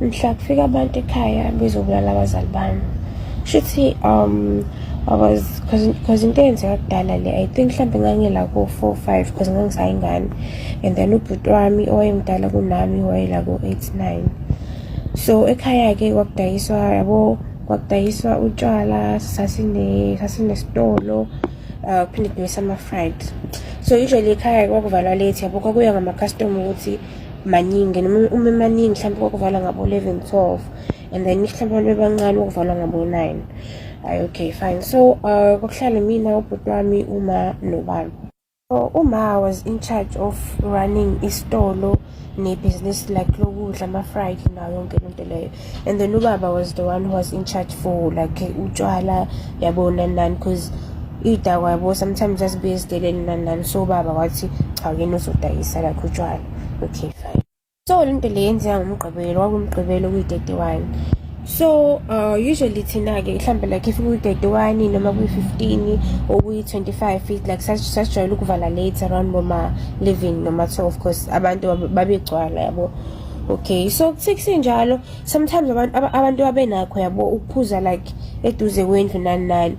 mhla kufika abantu ekhaya bezobulala abazali bami shuthi um I was because into eyenzeka kudala le I think mhlawumbe ngangila ko-four five because ngangisayingane and then ubhuti wami owayemdala kunami wayela ko-eight nine so ekhaya-ke kwakudayiswa yabo kwakudayiswa utshwala sasinesitolo uh kuphinde kudayisa ama-fried so usually ekhaya kwakuvalwa late yabo kwakuya ngama-custom ukuthi maningi and uma emaningi mhlawumbe kwakuvalwa ngabo 11 12 and then mhlawumbe abantu bebancane kwakuvalwa ngabo 9 hayi okay fine so uh kwakuhlale mina ubhuti wami uma nobani so uma was in charge of running isitolo nebhizinisi like lokudla ama-fried nayo yonke lento leyo and then ubaba was the one who was in charge for like utshwala yabona nani because iy'dakwa yabo sometimes asibuye ezideleni nani nani so ubaba wathi cha yena uzodayisa like utshwala okay fine so le nto le yenzeka ngomgqibelo kwakumgqibelo kuyi-31 so uh, usually thina-ke mhlawumbe like if kuyi-31 noma kuyi-15 or kuyi-25 feet like sasijwayele ukuvala late around boma-11 noma-12 because abantu babegcwala yabo okay so kuthe kusenjalo sometimes abantu abantu abenakho yabo ukuphuza like eduze kwendlu nani nani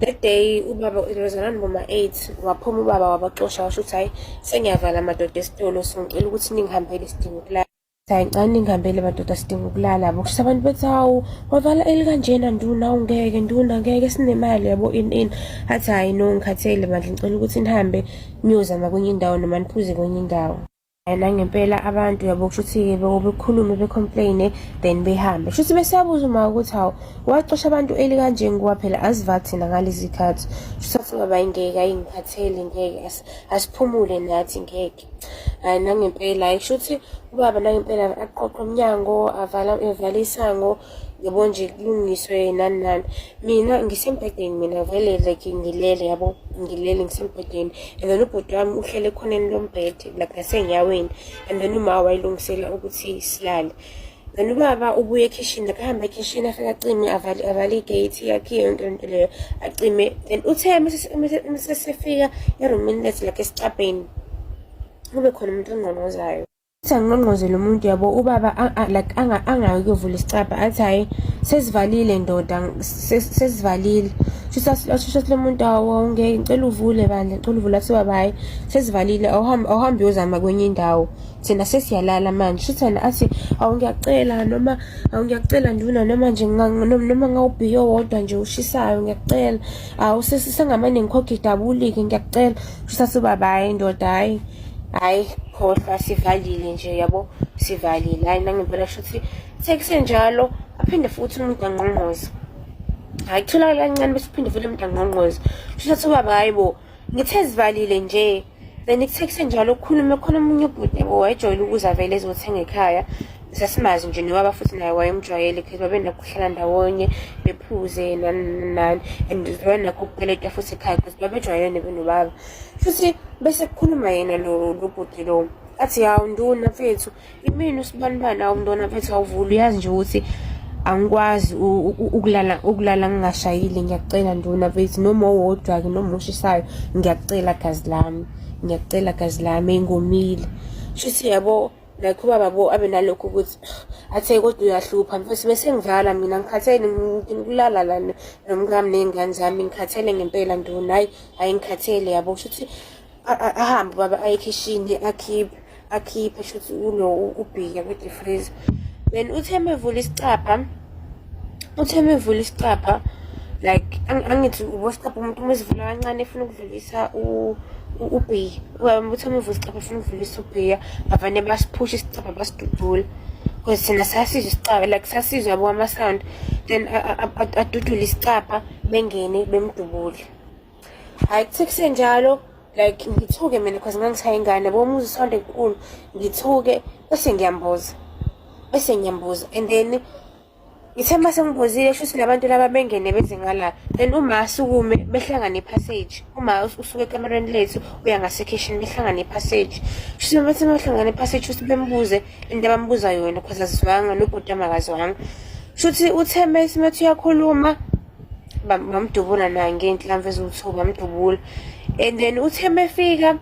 that day ubaba lozana noma 8 waphuma ubaba wabaxosha washo ukuthi hayi sengiyavala amadoda esitolo singicela ukuthi ningihambele isidingo kulala Sayincane ingihambele madoda sidinga ukulala bo kusho abantu bethi hawu wavala elikanjena nduna ungeke nduna ngeke sinemali yabo in in athi hayi no ngikhathele bandla ngicela ukuthi nihambe niyozama kwenye indawo noma niphuze kwenye indawo yena ngempela abantu yabo kushuthi-ke bekhulume becomplaine then behambe kushuthi besabuza uma ukuthi hawu wacosha abantu eli kanje ngoba phela aziva thina ngalezi khathi kushuthi asingaba ngeke ayingikhatheli ngeke asiphumule nathi ngeke hayi nangempela hayi kushuthi ubaba nangempela aqoqe umnyango avala evale isango yabo nje kulungiswe nani nani mina ngisembhedeni mina vele like ngilele yabo ngilele ngisembhedeni and then ubhuti wami uhlele ekhoneni lombhede like nasenyaweni and then uma wayilungisela ukuthi silale then ubaba ubuye ekhishini akahamba ekhishini afike acime avale avale igate yakhe yonke into leyo acime then uthe mesesifika erumini lethu like esicabheni kube khona umuntu ongqongqozayo Athi angqongqoze lo muntu yabo ubaba like angayi kuyovula isicabha athi hhayi sesivalile ndoda sesivalile shusho lo muntu awonge ngicela uvule bandla ngicela uvule athi ubaba hhayi sesivalile awuhambe uyozama kwenye indawo thina sesiyalala manje shuthi yena athi awu ngiyacela noma awu ngiyacela nduna noma nje noma ngawubhiyo wodwa nje ushisayo ngiyacela awu sengamane ngikhokhe idabulike ngiyacela shuthi athi ubaba hhayi ndoda hhayi hayi khohlwa sivalile nje yabo sivalile hayi nangempela kusho ukuthi sekusenjalo aphinde futhi umuntu angqongqoze hayi kutholakala kancane bese uphinde futhi umuntu angqongqoze kusho ukuthi ubaba hayi bo ngithe zivalile nje then kuthe kusenjalo kukhulume khona omunye ubhuti bo wayejwayele ukuza vele ezothenga ekhaya sasimazi nje nobaba futhi naye wayemjwayele because babenakuhlala ndawonye bephuze nani nani and zona nakho kukweleta futhi ekhaya because babejwayelene benobaba futhi bese kukhuluma yena lo lobhuti lo athi hawu nduna mfethu imini usibanibani hawu mntwana mfethu awuvula uyazi nje ukuthi angikwazi ukulala ukulala ngingashayile ngiyacela nduna mfethu noma owodwa-ke noma ushisayo ngiyacela gazi lami ngiyacela gazi lami engomile shuthi yabo like ubaba bo abe nalokho ukuthi athe kodwa uyahlupha mfethu bese ngivala mina ngikhathele ngikulala la nomkami ney'ngane zami ngikhathele ngempela ndona hayi hayi ngikhathele yabo kusho ukuthi ahambe ubaba aye ekhishini akhiphe akhiphe shuthi ulo ubhika kwedifriza then uthe mevula isicabha uthe mevula isicapha like angithi ubosicapha umuntu uma esivula kancane efuna ukudlulisa ubhiya uthe mevula isicapha efuna ukudlulisa ubhiya bavane basiphusha isicapha basidudula because thina sasizwa isicapha like sasizwa yabo kwama-sound then adudule isicapha bengene bemdubule hayi kuthe kusenjalo like ngithuke mina because ngangishaye ingane yabo umuzi usonto enkulu ngithuke bese ngiyambuza bese ngiyambuza and then ngithe uma sengibuzile shuthi labantu laba bengene beze ngala then uma asukume behlangane ipassage uma usuke ekamereni lethu uya ngasekhishini behlangane ipassage shuthi uma sebehlangane ipassage shuthi bembuze into abambuza yona because azizwanga nobhuti amakaziwanga shuthi utheme simethi uyakhuluma bamdubula naye ngenhlamvu eziwuthuku bamdubula and then uthe mefika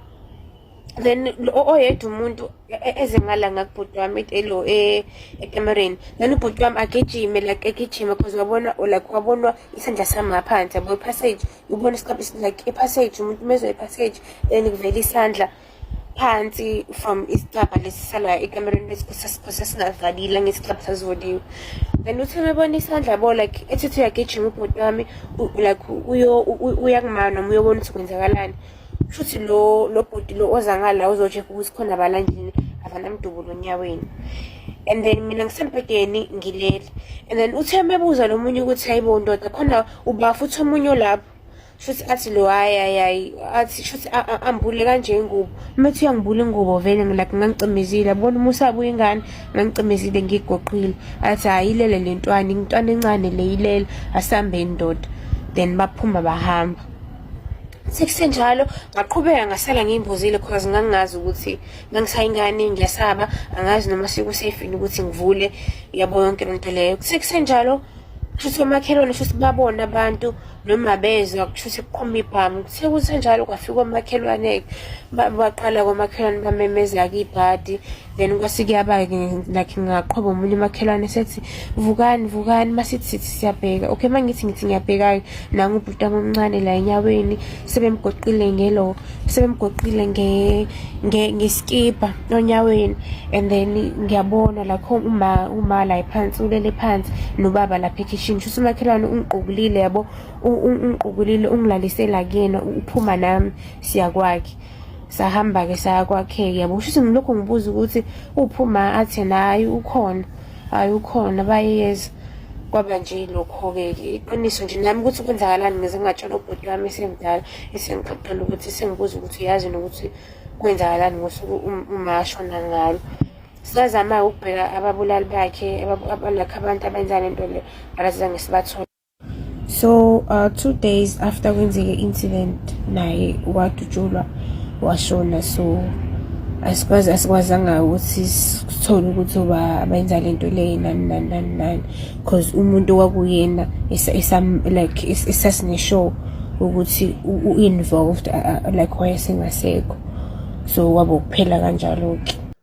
then oyedwa umuntu e, e, eze ngala ngakubhuti wami elo e, ekamereni then ubhuti wami agijime like egijime because wabona like wabonwa isandla sami ngaphansi yabo ipassage ubona isikhathi like ipassage umuntu umezwa ipassage then kuvela isandla phansi from isicabha lesi salaya ekamereni lesikhose singavalile ngesicabha sazivoliwe and uthi umebona isandla bo like ethi uthi uyagijima ubhuti wami like uyakumana noma uyobona ukuthi kwenzakalani shuthi lo lo bhuti lo oza ngala uzocheck ukuthi khona balanjini avanamdubulo onyaweni and then mina ngisembhedeni ngilele and then uthe mebuza lo munye ukuthi hayibo ndoda khona ubafu uthi omunye olapho shuthi athi lo hayi hayi hayi athi shuthi ambule kanje ingubo uma ethi uyangibula ingubo vele ngilakhe ngangicimezile abona uma usabuya ingane ngangicimezile ngigoqile athi hayi ilele le ntwana intwana encane le ilele asambe indoda then baphuma bahamba sekusenjalo ngaqhubeka ngasala ngiyimbuzile cause ngangingazi ukuthi ngangisayingane ngiyasaba angazi noma sekusafe yini ukuthi ngivule yabo yonke lento leyo sekusenjalo kushuthi omakhelwane shuthi babona abantu noma bezwa kushuthi kuqhuma ibhamu sekusenjalo kwafika omakhelwane baqala komakhelwane bamemeza-ke ibhadi then kwase kuyaba-ke like ngaqhwaba omunye umakhelwane sethi vukani vukani masithi sithi siyabheka okay uma ngithi ngithi ngiyabheka-ke nangubhuti omncane la enyaweni sebemgoqile ngelo sebemgoqile nge nge ngeskipa onyaweni and then ngiyabona la khona uma uma la phansi ulele phansi nobaba lapha ekhishini shuthi umakhelwane ungiqokulile yabo ungiqokulile ungilalisela kuyena uphuma nami siya kwakhe sahamba-ke saya kwakhe-ke yabo shuthi ngilokhu ngibuza ukuthi uphuma athi nayi ukhona hayi ukhona bayeza kwaba nje lokho-ke iqiniso nje nami ukuthi kwenzakalani ngize ngingatshela ubhuti wami esemdala esengixoxela ukuthi sengibuza ukuthi uyazi nokuthi kwenzakalani ngosuku um, umashona ngalo sazama-ke ukubheka ababulali bakhe abalakho abantu abenza le nto le but asizange sibathole so uh, two days after kwenzeke incident naye wadutshulwa washona so asikwazi asikwazanga ukuthi sithole ukuthi uba benza le nto leyo nani nani nani nani because umuntu kwakuyena like esasineshow ukuthi u-involved like wayesengasekho so wabo kuphela kanjalo-ke